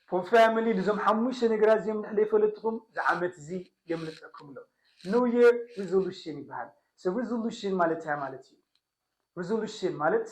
From family ልዞም ሓሙሽተ ነገራት እዚኦም ንሕለይ ፈለጥኹም ዝዓመት እዚ የምልጠኩም ኣሎ New year resolution ይበሃል So resolution ማለት እንታይ ማለት እዩ Resolution ማለት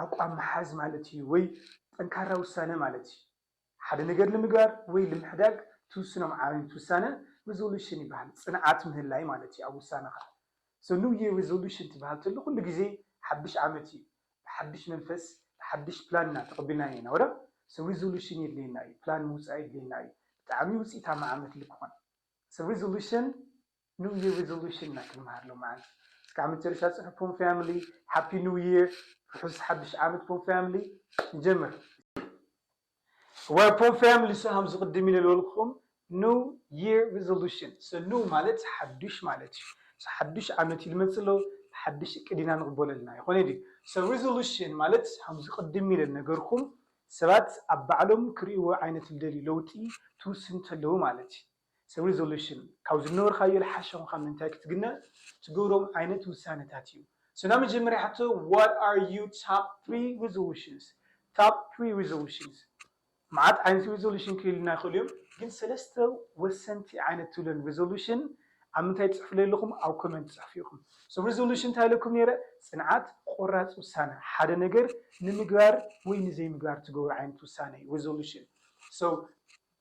ኣቋም ምሓዝ ማለት እዩ ወይ ጠንካራ ውሳነ ማለት እዩ ሓደ ነገር ንምግባር ወይ ልምሕዳግ ትውስኖ ዓይነት ውሳነ Resolution ይበሃል ፅንዓት ምህላይ ማለት እዩ ኣብ ውሳነኻ So new year resolution ትበሃል ተሎ ኩሉ ግዜ ሓዱሽ ዓመት እዩ ብሓድሽ መንፈስ ብሓድሽ ፕላን ኢና ተቀቢልናዮ ኢና ወረ ሰብ ሪዞሉሽን የድልየና እዩ ፕላን ምውጻእ የድልየና እዩ ብጣዕሚ ውጺኢታማ ዓመት ልክኾን ሰብ ሪዞሉሽን ኒው ይር ሪዞሉሽን ኢና ክንምሃር ሎምዓንቲ እስካዕ መጨረሻ ጽሑፍ ፖም ፋሚሊ ሃፒ ኒው ይር ርሑስ ሓድሽ ዓመት ፖም ፋሚሊ ንጀምር። Where poor families so ኣምዚ ቅድም ኢለ ልበልኩም new year resolution so new ማለት ሓዱሽ ማለት እዩ so ሓዱሽ ዓመት እዩ ልመጽእ ሎ ብሓዱሽ እቅድ ኢና ንቅበሎ ኣለና ኣይኮነይ ድዩ so resolution ማለት ኣምዚ ቅድም ኢለ ልነገርኩም ሰባት ኣብ ባዕሎም ክርእይዎ ዓይነት ልደልዩ ለውጢ ትውስን ተለዉ ማለት እዩ። ሰብ ሪዞሉሽን ካብ ዝነበርካዮ ልሓሸ ኮንካ ምእንታይ ክትግነ ትገብሮም ዓይነት ውሳነታት እዩ so ናይ መጀመርያ ሕቶ what are you top three resolutions top three resolutions መዓት ዓይነት ሪዞሉሽን ክህልዩና ይኽእሉ እዮም ግን ሰለስተ ወሰንቲ ዓይነት ትብለን ሪዞሉሽን ኣብ ምንታይ ትጽሕፍለ ኣለኹም ኣብ ኮመንት ትጽሕፉ ኢኹም so ሪዞሉሽን እንታይ ኢለኩም ነይረ ጽንዓት ቆራጽ ውሳነ ሓደ ነገር ንምግባር ወይ ንዘይምግባር ትገብሩ ዓይነት ውሳነ እዩ ሪዞሉሽን so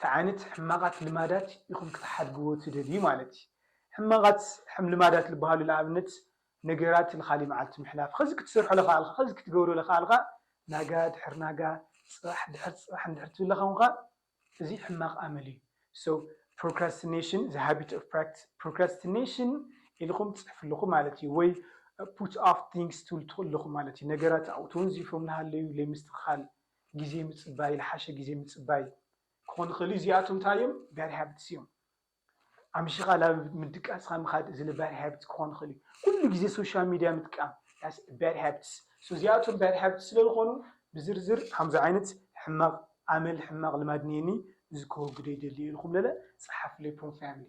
ቲ ዓይነት ሕማቓት ልማዳት ኢኹም ክትሓድግዎ ትደልዩ ማለት እዪ። ሕማቓት ሕም ልማዳት ልበሃሉ ልኣብነት ነገራት ልኻሊእ መዓልቲ ምሕላፍ፣ ኸዚ ክትሰርሖ ለኻኣልኻ፣ ኸዚ ክትገብሮ ለኻኣልኻ፣ ናጋ ድሕር ናጋ፣ ጽባሕ ድሕር ጽባሕ እንድሕር ትብል ለኻኹንኻ እዚ ሕማቕ ኣመል እዩ። So Procrastination the habit of practice Procrastination ኢልኹም ትጽሕፉ ኣለኹም ማለት እዩ ወይ Put off things ትብሉ ትኽእሉ ኣለኹም ማለት እዩ። ነገራት ኣብኡ ተወንዚፎም ልሃለዩ ለይምስትኽኻል ግዜ ምጽባይ ልሓሸ ግዜ ምጽባይ ክኾን ይኽእል እዩ። እዚኣቶም እንታይ እዮም? ባድ ሃብትስ እዮም። ኣምሽኻ ናብ ምድቃስኻ ምኻድ እዚ ባድ ሃብት ክኾን ይኽእል እዩ። ኩሉ ግዜ ሶሻል ሚድያ ምጥቃም ባድ ሃብትስ እዚኣቶም ባድ ሃብት ስለ ዝኾኑ ብዝርዝር ከምዚ ዓይነት ሕማቕ ኣመል ሕማቕ ልማድ እኒኤኒ እዚ ከወግዶ ይደሊ እየ ኢልኩም ለለ ጸሓፉለይ ፕሮም ፋሚሊ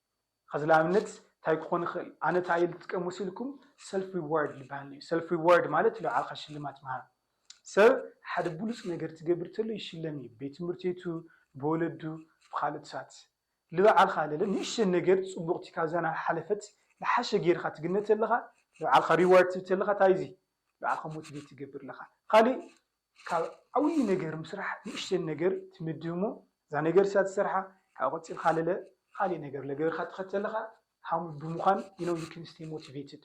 ኸዚ ልኣብነት ታይ ክኾን ይኽእል ኣነ ታይ እየ ልጥቀም መሲልኩም ሰልፍ ሪዋርድ ልብሃል እዩ ሰልፍ ሪዋርድ ማለት ንባዕልኻ ሽልማት ምሃብ ሰብ ሓደ ብሉፅ ነገር ትገብር ተሎ ይሽለም እዩ ቤት ትምህርት ቤቱ ብወለዱ ብኻልኦት ሳት ልብዓልኻ ለለ ንእሽተን ነገር ፅቡቕቲ ካብዛ ናብ ሓለፈት ልሓሸ ገይርኻ ትግነ ተለኻ ልብዓልኻ ሪዋርድ ትህብ ተለኻ ታይ እዚ ልብዓልኻ ሞቲቬት ትገብር ለኻ ኻሊእ ካብ ዓብይ ነገር ምስራሕ ንእሽተይ ነገር ትምድብ እሞ እዛ ነገር እሳ ትሰርሓ ካብኡ ቀፂልካ ለለ ካሊእ ነገር ለገበርካ ተኸተልኻ ሃም ብምዃን you know you can stay motivated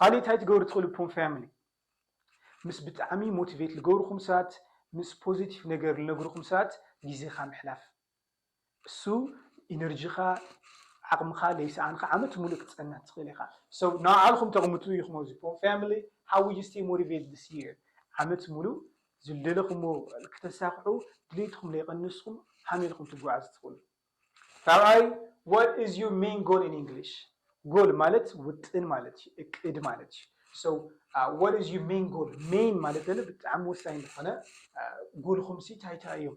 ካሊእ ታይ ትገብሩ ትኽእሉ ፖም ፋሚሊ ምስ ብጣዕሚ ሞቲቬት ልገብርኹም ሰባት ምስ ፖዘቲቭ ነገር ልነግርኹም ሰባት ግዜኻ ምሕላፍ እሱ ኢነርጂኻ ዓቕምኻ ለይሰኣንካ ዓመት ሙሉእ ክትፀንሕ ትኽእል ኢኻ so ንባዕልኹም ተቕምጡ ኢኹም ኣብዚ ፖም family how will you stay motivated this year ዓመት ሙሉእ ዝደለኹምዎ ክተሳኽዑ ድሌትኹም ለይቐነስኹም ሃመይ ኢልኩም ትጓዓዙ ትኽእሉ ራብዓይ what is your main goal in English ጎል ማለት ውጥን ማለት እዩ እቅድ ማለት እዩ so uh, what is your main goal main ማለት ደለ ብጣዕሚ ወሳኝ ዝኾነ ጎልኹም ሲ እንታይ እንታይ እዮም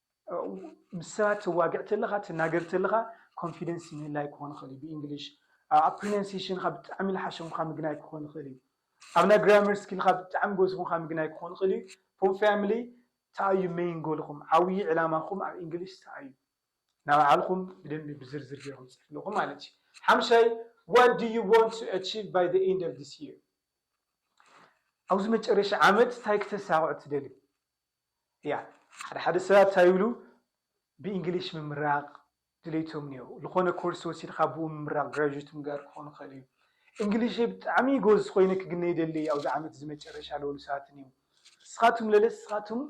ምስ ሰባት ትዋግዕ ተለኻ ትናገር ተለኻ ኮንፊደንስ ምህላይ ክኾን ይኽእል እዩ ብእንግሊሽ ኣብ ፕሪነንሴሽንካ ብጣዕሚ ልሓሸ ምዃን ምግናይ ክኾን ይኽእል እዩ ኣብ ናይ ግራመር ስኪልካ ብጣዕሚ ጎበዝ ምዃን ምግናይ ክኾን ይኽእል እዩ ፎም ፋሚሊ ተኣዩ መይን ጎልኹም ዓብዪ ዕላማኹም ኣብ እንግሊሽ ተኣዩ ናብ ባዕልኹም ብደንቢ ብዝርዝር ጌርኩም ፅሕፍልኹም ማለት እዩ ሓምሻይ ዋት ዱ ዩ ዋንት ቱ ኣቺቭ ባይ ዘ ኤንድ ኦፍ ዚስ ይር ኣብዚ መጨረሻ ዓመት እንታይ ክተሳኽዑ ትደልዩ እያ ሓደ ሓደ ሰባት ታይ ይብሉ ብእንግሊሽ ምምራቅ ድሌቶም እኒሀው ልኾነ ኮርስ ወሲድኻ ብኡ ምምራቅ ግራጁት ምግባር ክኾን ይኽእል እዩ እንግሊሸይ ብጣዕሚ ጎዝ ኾይነ ክግነ ይደሊ እየ ኣብዚ ዓመት እዚ መጨረሻ ልበሉ ሰባት እኒሀው እስኻቱም ለለ እስኻቱም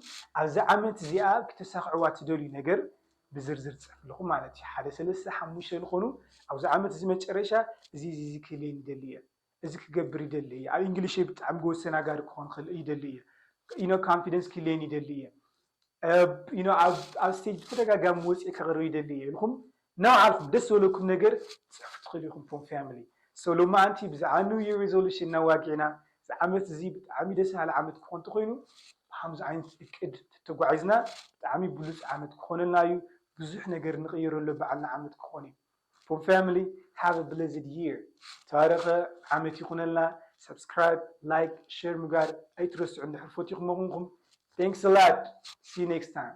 ኣብዚ ዓመት እዚኣ ክተሳኽዕዋ ትደልዩ ነገር ብዝርዝር ትፅሕፍልኹም ማለት እዩ ሓደ ሰለስተ ሓሙሽተ ልኾኑ ኣብዚ ዓመት እዚ መጨረሻ እዚ እዚ እዚ ክህልየኒ ይደሊ እየ እዚ ክገብር ይደሊ እየ ኣብ ኢንግሊሸይ ብጣዕሚ ጎበዝ ተናጋሪ ክኾን ክኽእል ይደሊ እየ you know confidence ክህልየኒ ይደሊ እየ you know ኣብ ስቴጅ ብተደጋጋሚ ወፅየ ከቕርብ ይደሊ እየ ኢልኹም ነባዕልኹም ደስ ዝበለኩም ነገር ፅሕፉ ትኽእሉ ኢኹም ፎም ፋሚሊ ሶ ሎማዓንቲ ብዛዕባ ኒው ይር ሪዞሉሽን እናዋግዕና እዚ ዓመት እዚ ብጣዕሚ ደስ በሃሊ ዓመት ክኾን እንተኾይኑ ብከምዚ ዓይነት እቅድ ተተጓዒዝና ብጣዕሚ ብሉፅ ዓመት ክኾነልና እዩ ብዙሕ ነገር ንቕይረሉ በዓልና ዓመት ክኾን እዩ ስፖርት ፋሚሊ ሃቭ እ ብለስድ ይር ተባረኸ ዓመት ይኹነልና ሳብስክራይብ ላይክ ሸር ምግባር ኣይትረስዑ እንድሕር ፈቲኹሞ ኩንኩም ታንክስ ኣላት ሲ ዩ ኔክስት ታይም።